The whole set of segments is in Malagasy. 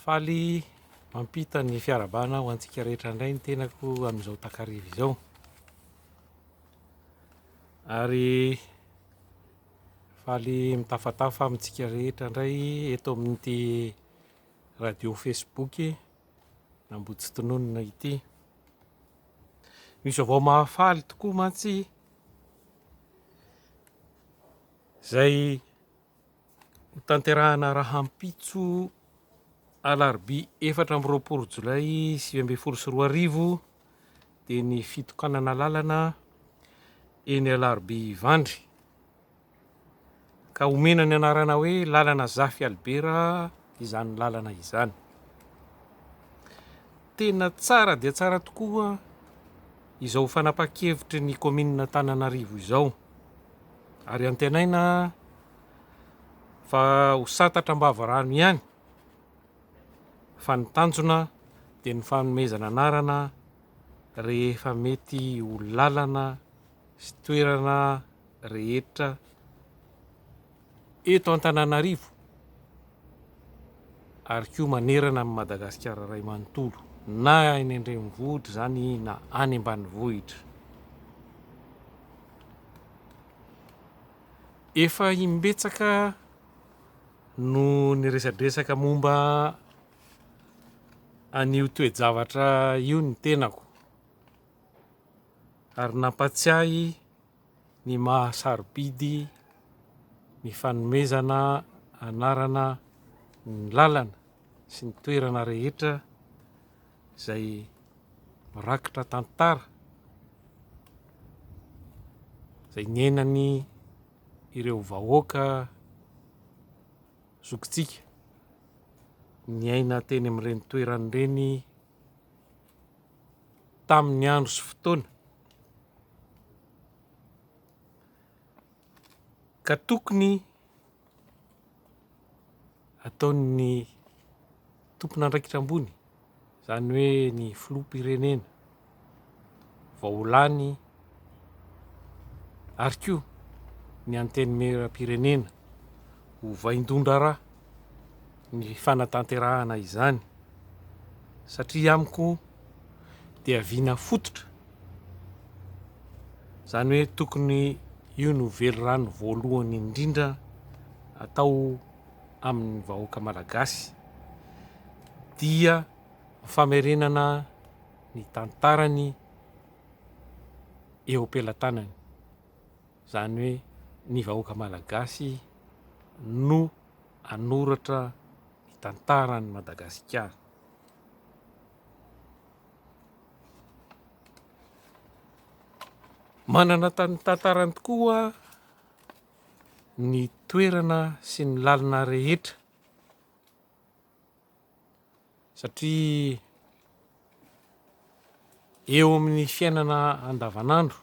Faly mampita ny fiarahabana ho antsika rehetra indray ny tenako amin'izao takariva izao. Ary faly mitafatafa amintsika rehetra indray eto amin'ity radio Facebook Nambotsitononina ity. Misy avao mahafaly tokoa mantsy izay Hotanterahina rahampitso alarobia efatra amby roapolo jolay sivy ambin'ny folo sy roa arivo dia ny fitokanana lalana eny alarobia Ivandry ka omena ny anarana hoe lalana Zafy Albera izany lalana izany. Tena tsara dia tsara tokoa izao fanapahan-kevitry ny kaominin'Antananarivo izao ary antenaina fa ho santatra am-bava rano ihany fa ny tanjona dia ny fanomezana anarana rehefa mety ho lalana sy toerana rehetra eto Antananarivo ary koa manerana an'i Madagasikara iray manontolo na any an-drenivohitra izany na any ambanivohitra. Efa imbetsaka no niresadresaka momba an'io toe-javatra io ny tenako ary nampatsiahy ny maha sarobidy ny fanomezana anarana ny lalana sy ny toerana rehetra izay mirakitra tantara izay niainany ireo vahoaka zokintsika niaina teny amin'ireny toerana ireny. tamin'ny andro sy fotoana ka tokony ataon'ny tompon'andraikitra ambony, izany hoe ny filoham-pirenena vao lany ary koa ny Antenimierampirenena ho vaindohan-draharaha ny fanatanterahana izany satria amiko dia vina fototra, izany hoe tokony io no velirano voalohany indrindra atao amin'ny vahoaka malagasy dia famerenana ny tantarany. eo am-pelatanany. Izany hoe ny vahoaka malagasy no hanoratra ny tantaran'i Madagasikara. Manana tantarany tokoa ny toerana sy ny lalina rehetra. satria eo amin'ny fiainana andavanandro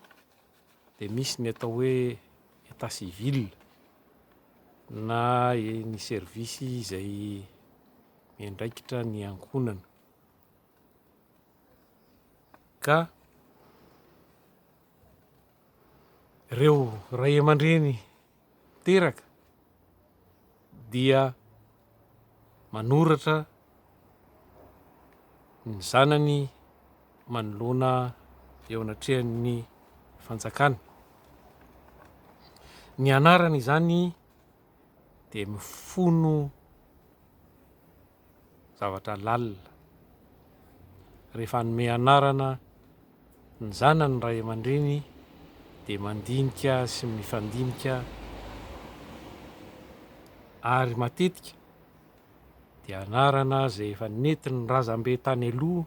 dia misy ny atao hoe état civil na ny service izay miandraikitra ny ankohonana ka ireo ray aman-dreny teraka dia manoratra ny zanany manoloana eo anatrehan'ny fanjakana. Ny anarana izany dia mifono zavatra lalina. Rehefa hanome anarana ny zanany ny ray aman-dreny dia mandinika sy mifandinika ary matetika dia anarana izay efa nentin'ny razambe tany aloha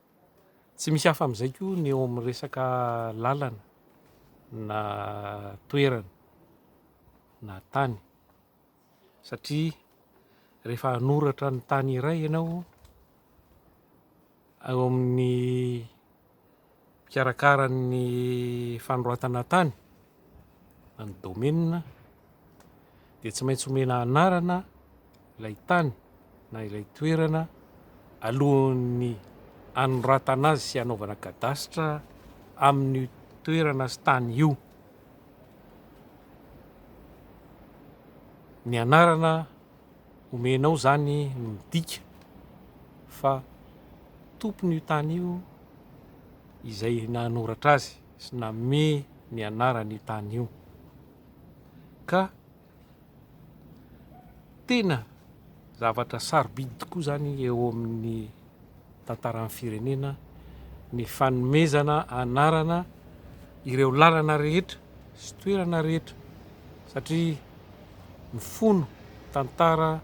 Tsy misy hafa amin'izay koa ny eo amin'ny resaka lalana na toerana na tany satria rehefa hanoratra ny tany iray ianao eo amin'ny mpikarakara ny fanoratana tany na ny domaine dia tsy maintsy omena anarana ilay tany na ilay toerana alohan'ny anoratana azy sy anaovana kadasitra amin'ny toerana sy tany io. Ny anarana omenao izany no midika fa tompon'io tany io izay nanoratra azy. sy nanome ny anarany io tany io. Ka tena zavatra sarobidy tokoa izany eo amin'ny tantaran'ny firenena ny fanomezana anarana ireo lalana rehetra sy toerana rehetra satria mifono tantara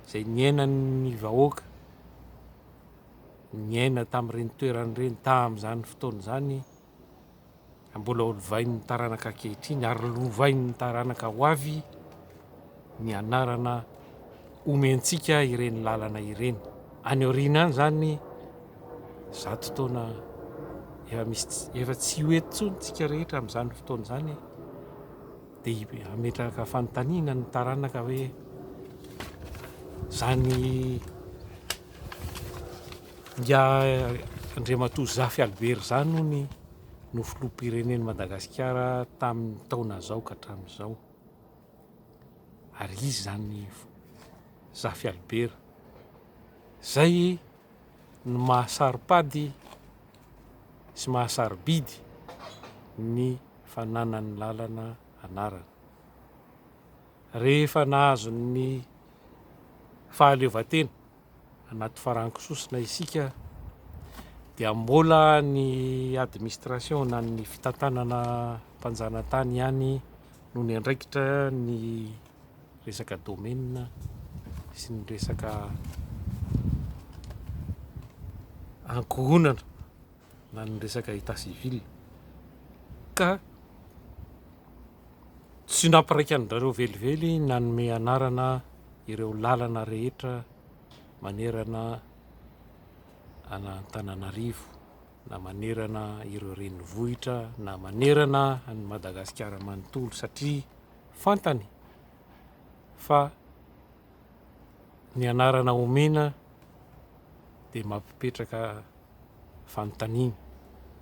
izay niainan'ny vahoaka. Niaina tamin'ireny toerana ireny tamin'izany fotoana izany ary mbola lovain'ny taranaka ankehitriny ary lovain'ny taranaka ho avy ny anarana omentsika ireny lalana ireny. Any aoriana any izany zato taona efa misy tsy- efa tsy ho eto intsony tsika rehetra amin'izany fotoana izany dia hametraka fanontaniana ny taranaka hoe izany Ingahy Andriamatoa Zafy Albert izany hono no filoham-pirenen'i Madagasikara tamin'ny taona izao ka hatramin'izao. Ary izy izany Zafy Albert izay no maha-saro-pady sy maha-sarobidy ny fananan'ny lalana anarana. Rehefa nahazo ny fahaleovantena anaty farankisosina isika dia mbola ny administration na ny fitantanana mpanjanatany ihany no niandraikitra ny resaka domaine sy ny resaka ankohonana na ny resaka état civil ka tsy nampiraika andrareo velively nanome anarana ireo lalana rehetra manerana an'Antananarivo na manerana ireo renivohitra na manerana an'i Madagasikara manontolo satria fantany fa ny anarana omena dia mampipetraka fanontaniana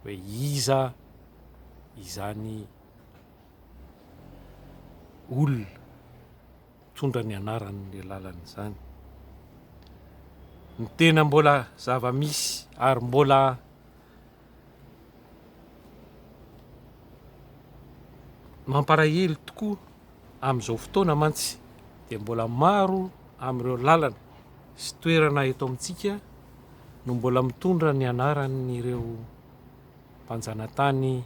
hoe iza izany olona mitondra ny anaran'ny lalana izany. Ny tena mbola zava-misy ary mbola mampalahelo tokoa Amin'izao fotoana mantsy dia mbola maro amin'ireo lalana sy toerana eto amintsika no mbola mitondra ny anaran'ireo mpanjanatany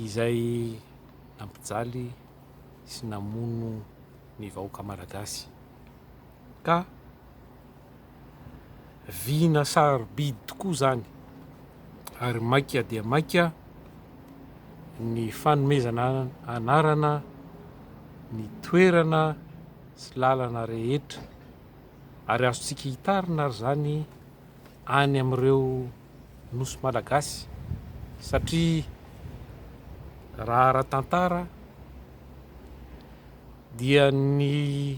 izay nampijaly sy namono ny vahoaka malagasy. ka vina sarobidy tokoa izany ary maika dia maika ny fanomezana anarana ny toerana sy lalana rehetra ary azontsika hitarina ary izany any amin'ireo nosy malagasy satria raha ara-tantara dia ny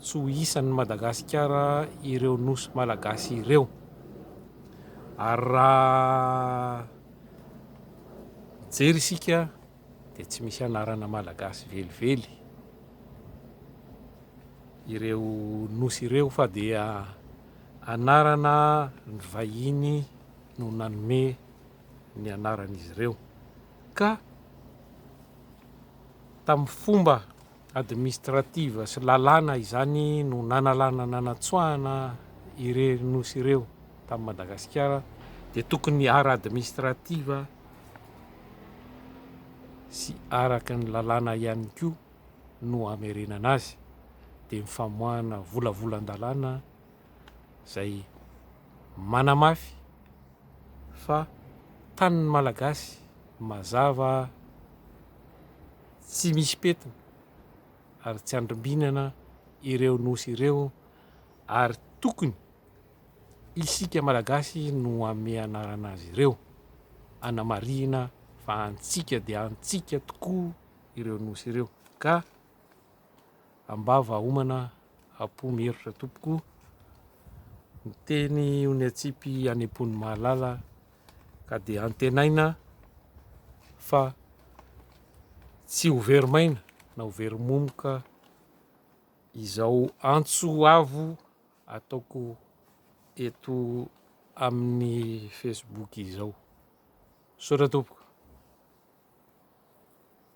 Tsy ho isan'ny Madagasikara ireo Nosy Malagasy ireo. Ary raha mijery isika dia tsy misy anarana Malagasy velively ireo Nosy ireo fa dia anarana ny vahiny no nanome ny anaran'izy ireo ka tamin'ny fomba administrative sy lalàna izany no nanalana nanatsoahana irery nosy ireo tamin'i Madagasikara dia tokony ara administrative sy araka ny lalàna ihany koa no hamerenana azy dia ny famoahana volavolan-dalàna izay manamafy fa tanin'ny Malagasy mazava tsy misy pentina ary tsy andrimbinana ireo nosy ireo ary tokony isika malagasy no ame anarana azy ireo anamarihina fa antsika dia antsika tokoa ireo nosy ireo ka ambava homana apo mierotra tompoko ny teny ony atsipy any am-pony mahalala ka dia antenaina fa tsy ho very maina na ho very momoka izao antso avo ataoko eto amin'ny Facebook izao. Misaotra tompoko.